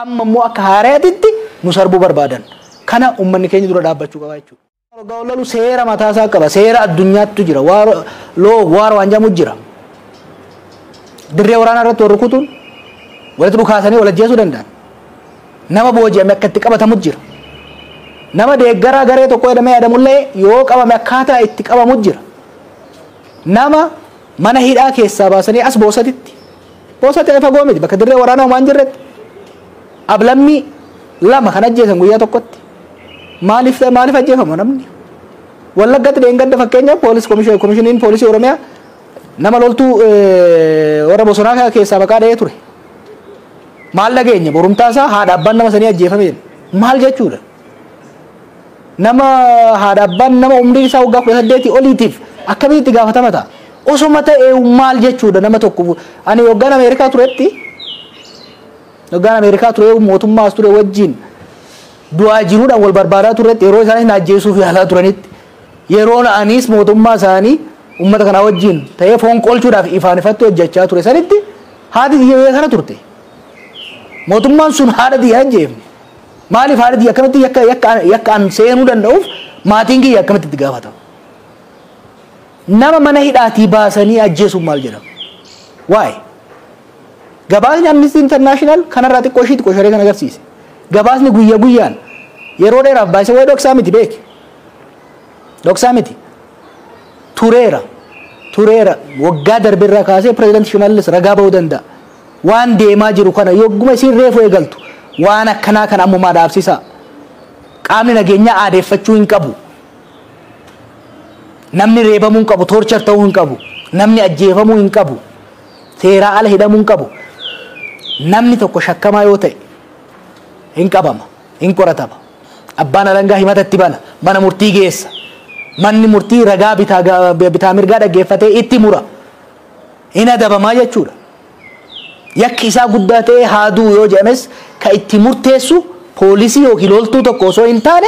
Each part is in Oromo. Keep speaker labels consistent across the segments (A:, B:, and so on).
A: Amma immoo akka haarayatitti nu sarbuu barbaadan. Kana ummanni keenya dura dhaabbachuu qaba jechuudha. Waar oggaa wal lolu seera mataa isaa qaba. Seera addunyaattu jira. Waar law of war waan jedhamu jira. Dirree waraanaa irratti wal rukutuun walitti dhukaasanii wal ajjeesuu danda'an. Nama booji'ame akka itti qabatamu jira. Nama deeggaraa garee tokko jedhamee yaadamullee yoo qabame akkaataa itti qabamu jira. Nama mana hidhaa keessaa baasanii as boosatitti. Boosatti ani fagoo miti bakka dirree waraanaa homaa hin jirretti. Ablammii lama kan ajjeesan guyyaa tokkotti. Maaliif ta'e maaliif ajjeefama namni? Wallaggatti dheengadda fakkeenyaaf poolis komishiniin poolisii Oromiyaa nama loltuu warra bosonaa keessaa maqaa dha'ee ture. Maal dhageenya borumtaa isaa haadha abbaan nama sanii ajjeefame maal jechuudha? nama haadha abbaan nama umriin isaa waggaa kudha saddeetii oliitiif akkamitti itti gaafatama ta'a? Osoma ta'e maal jechuudha nama tokko ani waggaan Ameerikaa turetti waggaan Ameerikaa ture mootummaas ture wajjin du'aa jiruudhaan wal barbaadaa turetti yeroo isaan ajjeesuuf yaalaa turanitti yeroo anis mootummaa isaanii uummata kanaa wajjin ta'ee foon qolchuudhaaf ifaan ifatti hojjechaa ture sanitti haati xiyya kana turte mootummaan sun haadha xiyya ajjeefne Maaliif haala kiyya akkamitti yakka yakka yakka an seenuu danda'uuf maatiin kiyya akkamitti itti gaafatamu? Nama mana hidhaatii baasanii ajjeesuun maal jedhama? Waa'ee gabaasni Amnesty International kanarraa xiqqoo ishii xiqqoo sharee kan agarsiise. Gabaasni guyya guyyaan yeroo dheeraaf baay'isa waa'ee dhoksaa miti beeki. Dhoksaa miti. Tureera. Tureera. Waggaa darberraa kaasee pireezidaanti Shimallis ragaa ba'uu danda'a. Waan deemaa jiru kana yogguma isiin reefu eegaltu waan akkanaa kana ammumaa dhaabsisaa. Qaamni nageenyaa aadeeffachuu hin qabu. Namni reebamuu hin qabu, toorchar ta'uu hin qabu. Namni ajjeefamuu hin qabu. Seeraa ala hidhamuu hin qabu. Namni tokko shakkamaa yoo ta'e hin qabama, hin qoratama. Abbaan alangaa himata itti bana, mana murtii geessa. Manni murtii ragaa bitaa, bitaa mirgaa dhaggeeffatee itti mura. hin adabamaa jechuudha. Yakki isaa guddaa ta'ee haa du'u yoo jedhames ka itti murteessu poolisii yookiin loltuu tokko osoo hin taane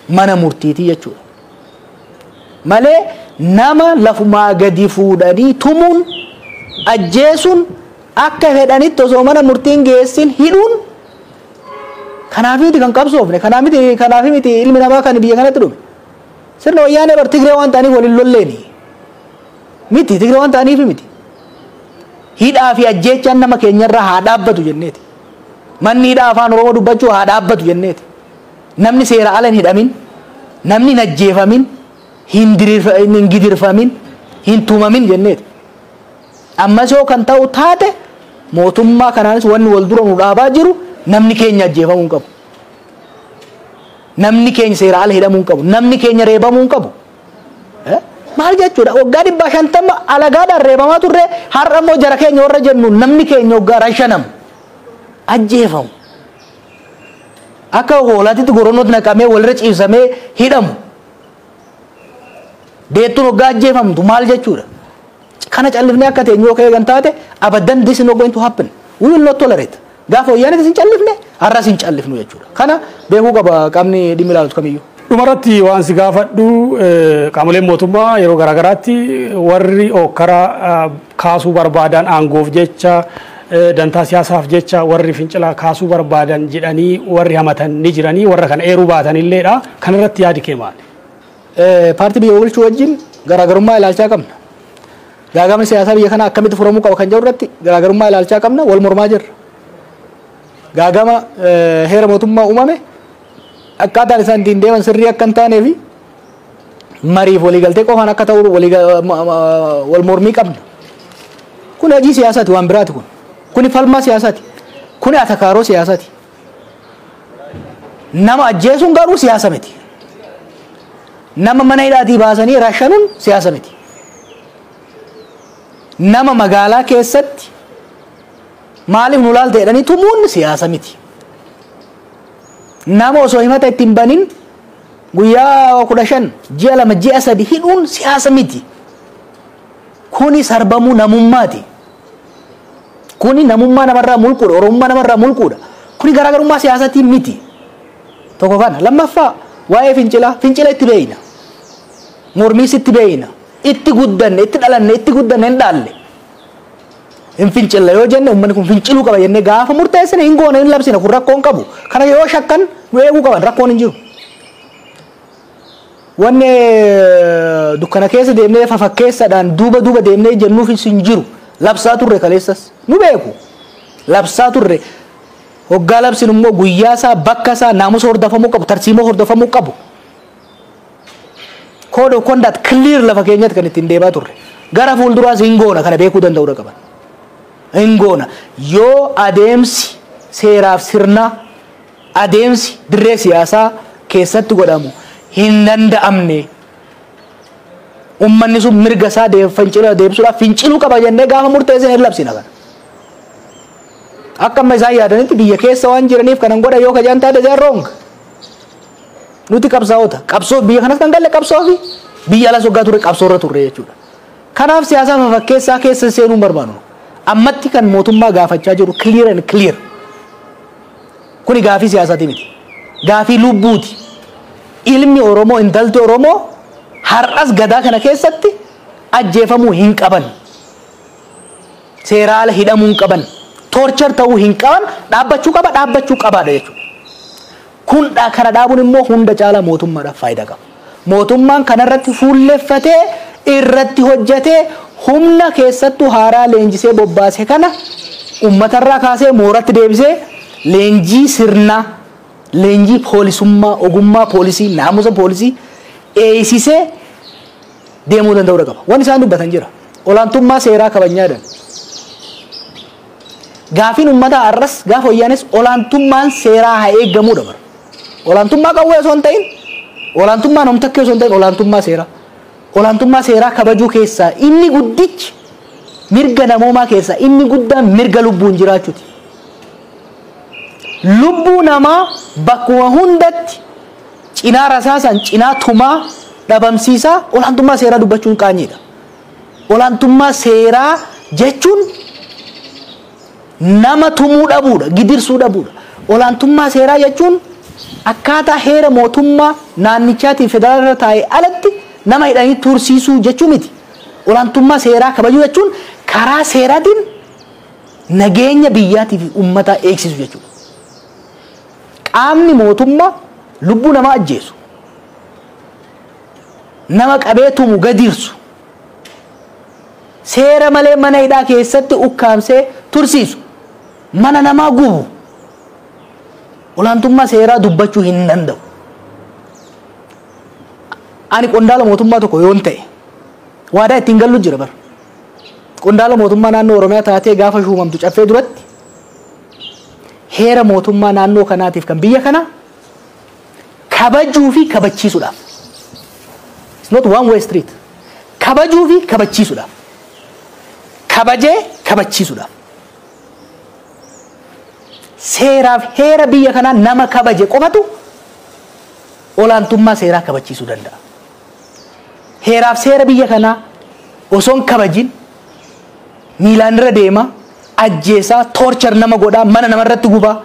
A: mana murtiitii jechuudha. Malee nama lafumaa gadi fuudhanii tumuun ajjeesuun akka fedhanitti osoo mana murtiin geessin hidhuun kanaaf miti kan qabsoofne kanaaf miti kanaaf miti ilmi namaa kan biyya kanatti dhume sirna wayyaanee bar tigree waan ta'aniif waliin lolleeni. Miti Tigree waan ta'aniif miti. Hidhaa fi ajjeechaan nama keenyarraa haa dhaabbatu jenneeti. Manni hidhaa afaan Oromoo dubbachuu haa dhaabbatu jenneeti. Namni seera ala hin hidhamin, namni hin ajjeefamin, hin dirirf- hin- hin gidirfamin, hin tumamin jenneeti. Ammas yoo kan ta'u taate mootummaa kanaanis wanni wal dura nu dhaabaa jiru namni keenya ajjeefamuu hin qabu. Namni keenya seera ala hidhamuu hin qabu. Namni keenya reebamuu hin qabu. Maal jechuudha? Waggaa dhibbaa shantama alagaadhaan reebamaa turre har'a immoo jara keenya warra jennu namni keenya waggaa rashanamu. Ajjeefamu. Akka hoolaatitti goronootti naqamee walirra ciibsamee hidhamu. Deettuun waggaa ajjeefamtu maal jechuudha? Kana callifnee akka teenyu yoo ka eegan taate abaddan this is not going to happen. We will not tolerate. Gaafa wayyaaneetis hin callifne har'as hin callifnu jechuudha. Kana beekuu qaba qaamni dhimmi ilaalatu kamiyyuu. Dhumarratti waan si
B: gaafadhu eh, qaamoleen mootummaa yeroo garaagaraatti warri ookkara ah, kaasuu barbaadan aangoof jecha eh, dantaa siyaasaaf jecha warri fincila kaasuu barbaadan jedhanii warri hamatan ni jiranii warra kana eeruu baatan illeedha. Kanarratti yaadi kee maali? Paartii biyya bulchuu wajjin garaagarummaa ilaalchaa qabna. Gaagamni siyaasaa biyya kanaa akkamitti furamuu qaba kan jedhu irratti garaagarummaa ilaalchaa qabna wal mormaa jirra. Gaagama heera mootummaa uumame akkaataan isaan ittiin deeman sirrii akka hin taanee fi mariif waliigaltee qofaan akka ta'u wal mormii qabna. Kun hojii siyaasaati waan biraati kun. Kuni falmaa siyaasaati. Kuni atakaaroo siyaasaati. Nama ajjeesuun garuu siyaasa miti. Nama mana hidhaatii baasanii rashanuun siyaasa miti. Nama magaalaa keessatti maaliif nu laalta jedhanii tumuun siyaasa miti. Nama osoo himata itti hin banin guyyaa kudha shan ji'a lama ji'a sadi hidhuun siyaasa miti. Kuni sarbamuu namummaati. Kuni namummaa namarraa mulquudha, Oromummaa namarraa mulquudha. Kuni garaagarummaa siyaasatiin miti. Tokko kana. Lammaffaa waa'ee fincilaa, fincila itti beeyna. Mormiis itti beeyna. Itti guddanne, itti dhalanne, itti guddanne hin dhaalle. Hin
A: fincilla yoo jenne uummanni kun finciluu qaba jennee gaafa murteessine hin goone hin labsine kun rakkoon qabu. Kana yoo shakkan nu eeguu qaban rakkoon hin jiru. Wanni dukkana keessa deemnee fafakkeessadhaan duuba duuba deemnee jennuufis hin jiru. Labsaa turre kaleessas. Nu beeku. Labsaa turre. Hoggaa labsin immoo guyyaa isaa, bakka isaa, naamusa hordofamuu qabu, tarsiimoo hordofamuu qabu. Code of conduct clear lafa keenyatti kan ittiin deemaa turre. Gara fuulduraas hin goona kana beekuu danda'uudha qaban. Hin goona. Yoo adeemsi seeraaf sirnaa adeemsi dirree siyaasaa keessatti godhamu hin danda'amne. Ummanni sun mirga isaa fincila deebisuudhaaf finciluu qaba jennee gaafa murteessine hin labsina kana. Akka amma isaan yaadanitti biyya keessa waan jiraniif kanan godha yoo kajaan taate they are wrong. Nuti qabsaa'ota qabsoo biyya kanas kan galle qabsoo fi biyya alas waggaa turre qabsoo irra turre jechuudha. Kanaaf siyaasaa fafakkeessaa keessa seenuu hin barbaannu. Ammatti kan mootummaa gaafachaa jiru clear and clear. Kuni gaafii siyaasati miti. Gaafii lubbuuti. Ilmi Oromoo, intalti Oromoo har'as gadaa kana keessatti ajjeefamuu hin qaban. Seeraa ala hidhamuu hin qaban. Torture ta'uu hin qaban. Dhaabbachuu qaba, dhaabbachuu qabaadha jechuudha. Kun kana dhaabuun immoo hunda caalaa mootummaadhaaf faayidaa qaba. Mootummaan kanarratti fuulleffatee irratti hojjatee humna keessattuu haaraa leenjisee bobbaase kana ummatarraa kaasee mooratti deebisee leenjii sirnaa, leenjii poolisummaa, ogummaa poolisii, naamusa poolisii eeysisee deemuu danda'uudha qaba. Wan isaan dubbatan jira. Olaantummaa seeraa kabajnaa jedhan. Gaafiin ummataa har'as gaafa wayyaanees olaantummaan seeraa haa eeggamuudha bara. Olaantummaa qawwee osoo hin ta'in, olaantummaa namtakkee osoo hin ta'in olaantummaa seeraa. Olaantummaa seeraa kabajuu keessaa inni guddichi mirga namoomaa keessaa inni guddaan mirga lubbuun jiraachuuti. Lubbuu namaa bakkuma hundatti cinaa rasaasaan cinaa tumaa dhabamsiisaa olaantummaa seeraa dubbachuun qaanyiidha. Olaantummaa seeraa jechuun nama tumuu dhabuudha, gidirsuu dhabuudha. Olaantummaa seeraa jechuun akkaataa heera mootummaa naannichaatiin federaalarra taa'e alatti nama hidhanii tursiisuu jechuu miti. Olaantummaa seeraa kabajuu jechuun karaa seeraatiin nageenya biyyaatii fi uummataa eegsisu jechuudha. Qaamni mootummaa lubbuu namaa ajjeesu, nama qabee tumu gadirsu seera malee mana hidhaa keessatti ukkaamsee tursiisu mana namaa gubu olaantummaa seeraa dubbachuu hin danda'u. Ani qondaala mootummaa tokko yoon ta'e waadaa ittiin gallu jira bara. Qondaala mootummaa naannoo Oromiyaa taatee gaafa shuumamtu caffee duratti heera mootummaa naannoo kanaatiif kan biyya kanaa kabajuu fi kabachiisuudhaaf. It's not one way street. Kabajuu fi kabachiisuudhaaf. Kabajee kabachiisuudhaaf. Seeraaf heera biyya kanaa nama kabaje qofatu olaantummaa seeraa kabachiisuu danda'a. Heeraaf seera biyya kanaa osoo hin kabajin miilaan irra deema, ajjeesaa, toorchar nama godhaa, mana namarratti gubaa.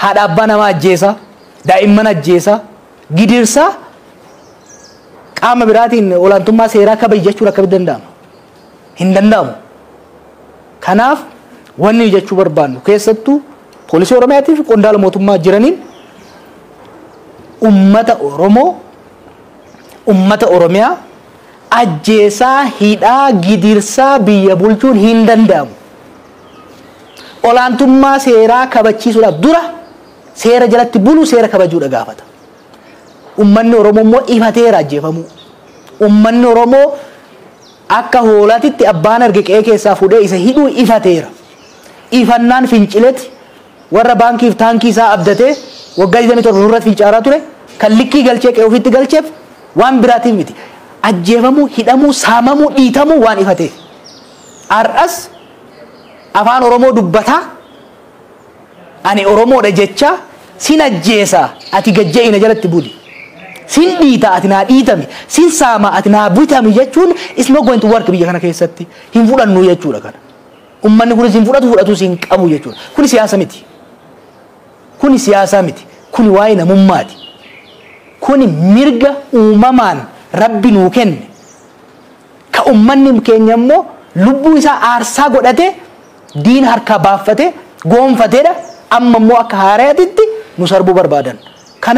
A: haadha abbaa namaa ajjeesaa, daa'imman ajjeesaa, gidirsaa qaama biraatiin olaantummaa seeraa kabaji jechuun akkamitti danda'ama? Hin danda'amu. Kanaaf wanni jechuu barbaannu keessattuu poolisii Oromiyaatii fi qondaala mootummaa jiraniin ummata Oromoo ummata Oromiyaa ajjeesaa, hidhaa, gidirsaa biyya bulchuun hin danda'amu. olaantummaa seeraa kabachiisuudhaaf dura seera jalatti bulu seera kabajuudha gaafata. Ummanni Oromoo immoo ifateera ajjeefamuu. Ummanni Oromoo akka hoolaatitti abbaan arge qe'ee keessaa fuudhee isa hidhuu ifateera. Ifannaan fincileti warra baankiif taankii isaa abdatee waggaa 27 nurratti fincaaraa ture kan likkii galchee qe'ee ofiitti galcheef waan biraatiif miti. Ajjeefamuu, hidhamuu, saamamuu, dhiitamuu waan ifateef. Har'as Afaan Oromoo dubbataa, ani Oromoodha jechaa, sin ajjeesa ati gad je'i na jalatti buli, sin dhiita ati naa dhiitami, sin saama ati naa bitami jechuun it's not going to work biyya kana keessatti. Hin fudhannu jechuudha kana. Ummanni kunis hin fudhatu fudhatuus hin qabu jechuudha. Kuni siyaasa miti. Kuni siyaasaa miti. Kuni waa'ee namummaati. Kuni mirga uumamaan Rabbi nuu kenne. Ka ummanni keenya immoo lubbuu isaa aarsaa godhatee diina harkaa baaffatee goonfateedha, amma immoo akka haarayatitti nu sarbuu barbaadan. Kana.